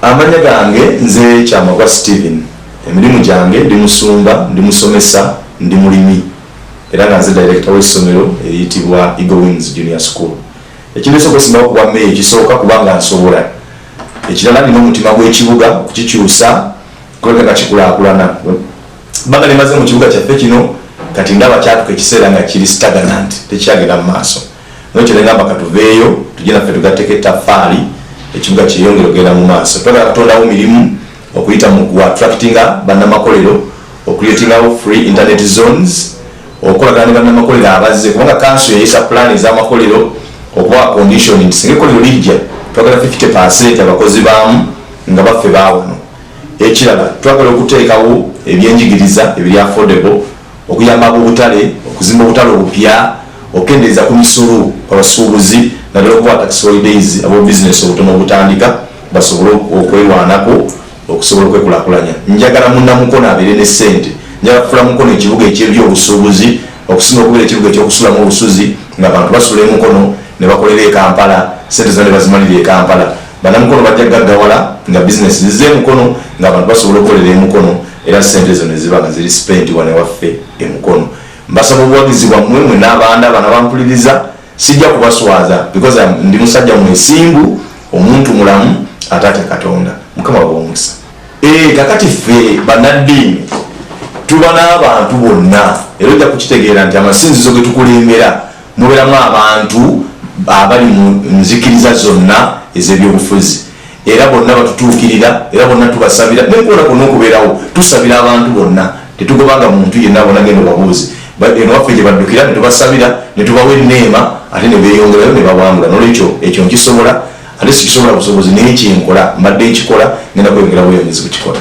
Amanya gange nze Kyamagwa Steven. Emirimu gyange ndi musumba, ndi musomesa, ndi mulimi era nga nze director w'essomero eriyitibwa Eagle Wings Junior School. Ekindeese okwesimbawo ku bwa meeya ekisooka kubanga nsobola. Ekirala nina omutima gw'ekibuga okukikyusa kulabika nga kikulaakulana. Ebbanga lye mmaze mu kibuga kyaffe kino kati ndaba kyatuuka ekiseera nga kiri stagnant tekyagenda mu maaso. Naye kyenegamba katuveeyo tujje naffe tugatteko ettaffaali ekibuga kyeyongere okugenda mu maaso. Twagala kutondawo mirimu okuyita mu ku attractinga bannamakolero, okuleetingawo free internet zones, okukolagana ne bannamakolero abazze kubanga kanso yayisa pulaani ez'amakolero okubawa condition nti singa ekkolero lijja twagala 50 percent abakozi baamu nga baffe baawano. Ekirala twagala okuteekawo ebyenjigiriza ebiri affordable. okuyamba ab'obutale okuzimba obutale obupya, okukendeeza ku misolo ku basuubuzi naddala okubawa tax holidays ab'obubizinensi obutono obutandika basobole okwerwanako okusobola okwekulakulanya. Njagala munnamukono abeere ne ssente, njagala kufuula Mukono ekibuga eky'ebyobusuubuzi okusinga okubeera ekibuga eky'okusulamu olusuzi ng'abantu basula e Mukono ne bakolera e Kampala, ssente zonna ne bazimalira e Kampala. Bannamukono bajja kugaggawala nga bizinensi zizze e Mukono ng'abantu basobola okukolera e Mukono. era sente ezo neziba nga ziri spenti wane waffe emukono mbasaba obuwagizi bwammwe mwe n'abaanda bana bampuliriza sijja kubaswaza because ndi musajja mwesimbu omuntu mulamu atate katonda mukama wabomukisa eh, kakati ffe banaddiini tuba n'abantu bonna era ojja kukitegeera nti amasinzizo getukulembera Muberamu abantu abali mu nzikiriza zonna ez'ebyobufuzi era bonna batutuukirira era bonna tubasabira nekuona kona okubeerawo tusabira abantu bonna tetugobanga muntu yenna bona genda obabuuzi eno waffe gye baddukira ne tubasabira ne tubawa enneema ate ne beeyongerayo ne bawangula nolwekyo ekyo nkisobola ate sikisobola busobozi naye kyenkola mbadde nkikola ngenda kweyongerawo yongezi kukikola